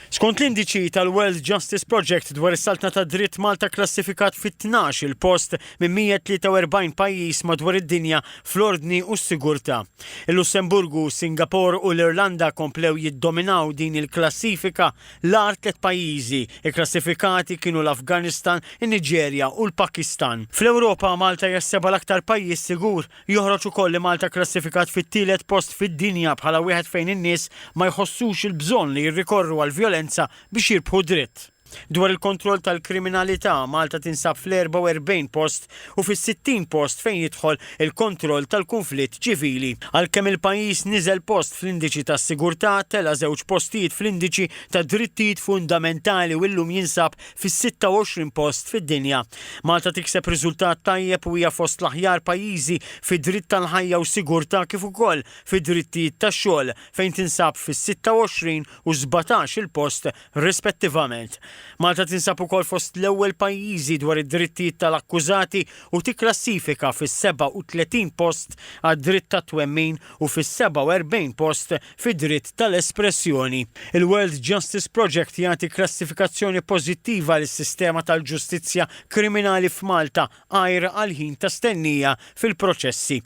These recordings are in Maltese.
Skont l-indiċi tal-World Justice Project dwar is-saltna tad-dritt Malta kklassifikat fit-tnax il-post minn 143 pajjiż madwar id-dinja fl-ordni u s-sigurtà. Il-Lussemburgu, Singapore u l-Irlanda komplew jiddominaw din il-klassifika. L-agħar tliet pajjiżi kklassifikati kienu l-Afganistan, in-Niġerja u l-Pakistan. Fl-Ewropa, Malta hija s-seba' l-aktar pajjiż sigur. Joħroġ ukoll li Malta kklassifikat fit-tielet post fid-dinja bħala wieħed fejn in-nies ma jħossux il-bżonn li jirrikorru għall-vjolenza biex jirbħu dritt. Dwar il-kontroll tal-kriminalità, Malta tinsab fl-44 post u fis-60 post fejn jidħol il-kontroll tal-kunflitt ċivili. Għalkemm il-pajjiż niżel post fl-indiċi tas-sigurtà, tela' żewġ postijiet fl-indiċi tad-drittijiet fundamentali u llum jinsab fis-26 post fid-dinja. Malta tikseb riżultat tajjeb u hija fost l-aħjar pajjiżi fi dritt tal-ħajja u sigurtà kif ukoll fi drittijiet tax-xogħol fejn tinsab fis-26 u 17 il-post rispettivament. Malta tinsab ukoll fost l-ewwel pajjiżi dwar id-drittijiet tal-akkużati u tikklassifika fis-37 post għad-dritt tat-twemmin u fis-47 post fid-dritt tal-espressjoni. Il-World Justice Project jagħti klassifikazzjoni pożittiva lis-sistema tal-ġustizzja kriminali f'Malta għajr għall-ħin ta' stennija fil-proċessi.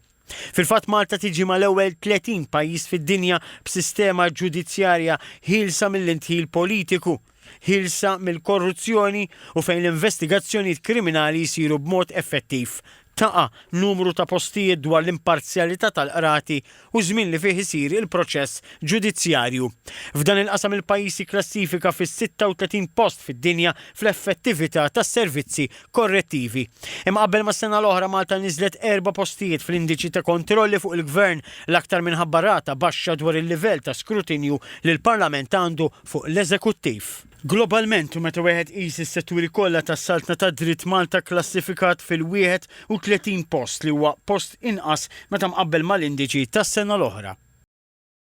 Fil-fatt Malta tiġi mal-ewwel 30 pajjiż fid-dinja b'sistema ġudizzjarja ħielsa mill-indħil politiku. ħielsa mill-korruzzjoni u fejn l-investigazzjonijiet kriminali jsiru b'mod effettiv, taqa', numru ta' postijiet dwar l-imparzjalità tal-qrati u żmien li fih isir il-proċess ġudizzjarju. F'dan il-qasam il-pajjiż jikklassifika fis-36 post fid-dinja fl-effettività tas-servizzi korrettivi. Imqabbel mas-sena l-oħra Malta niżlet erba' postijiet fl-indiċi ta' kontrolli fuq il-gvern, l-aktar minħabba rata baxxa dwar il-livell ta' skrutinju li l-Parlament għandu fuq l-eżekuttiv. Globalment u meta wieħed iqis is-setturi kollha tas-Saltna tad-Dritt Malta kklassifikat fil-31 post li huwa post inqas meta mqabbel mal-indiċi tas-sena l-oħra.